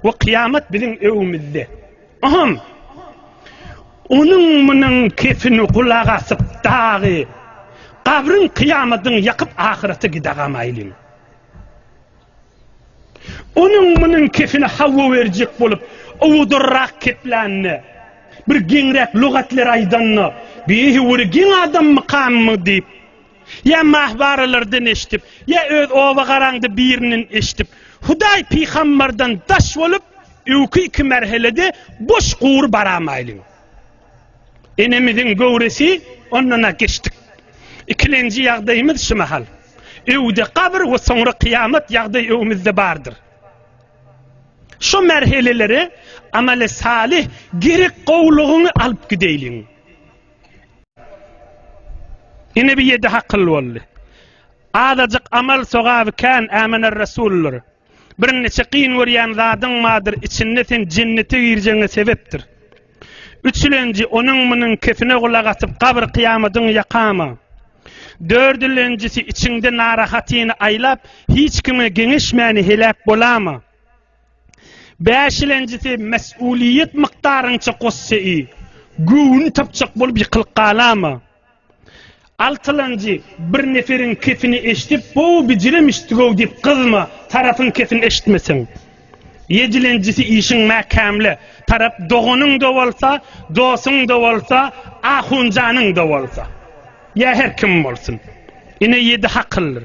we kyýamat biziň öwümizde. Aham, onuň munuň kepini gulak asyp dagy, gabryň kyýamadyň ýakyp ahyrata gidagamaýlyň. Onuň munuň kepini hawa berjek bolup, owudurrak keplände, bir geňräk lugatlar aýdanda, bihi bir geň adam mykammy diýip, Ýa mahbaralardan eşdip, ýa öz oba garaňda birinden eşdip, Hudaý pygambardan daş bolup, öwki iki merhelede boş gury baramaýlyň. Enemiziň göwresi ondan-a geçdik. Ikilenji ýagdaýymyz şu mahal. Öwde gabyr we soňra kyýamat ýagdaý öňümizde bardyr. Şu merhelelere amali salih gerek gowulygyňy alyp gideýliň. Ine bi ýedi hakyl boldy. Azajyk amal sogaby kän ämener resullar. Bir niçe kyn görýän zadyň madyr içinde sen jennete girjegiňe sebepdir. Üçülenji onuň munuň kesine gulak asyp gabyr kyýamadyň ýakama. Dördülenjisi içiňde narahatyny aýlap hiç kime geňeşmäni heläk bolama. Bäşilenjisi mesulyýet mykdaryňça gossy, göwün tapjak bolup ýykylyp galama. Altylenji bir neferiň kepini eşdip, bu bijirem eşitdi-ow diýip gyzma, tarapyň kepini eşitmeseň. Ýedilenjisi işiň mäkämle, tarap doganyň-da bolsa, dosuň-da bolsa, ahunjanyň-da bolsa. Ýa her kim bolsun. Ine ýedi hakyldyr.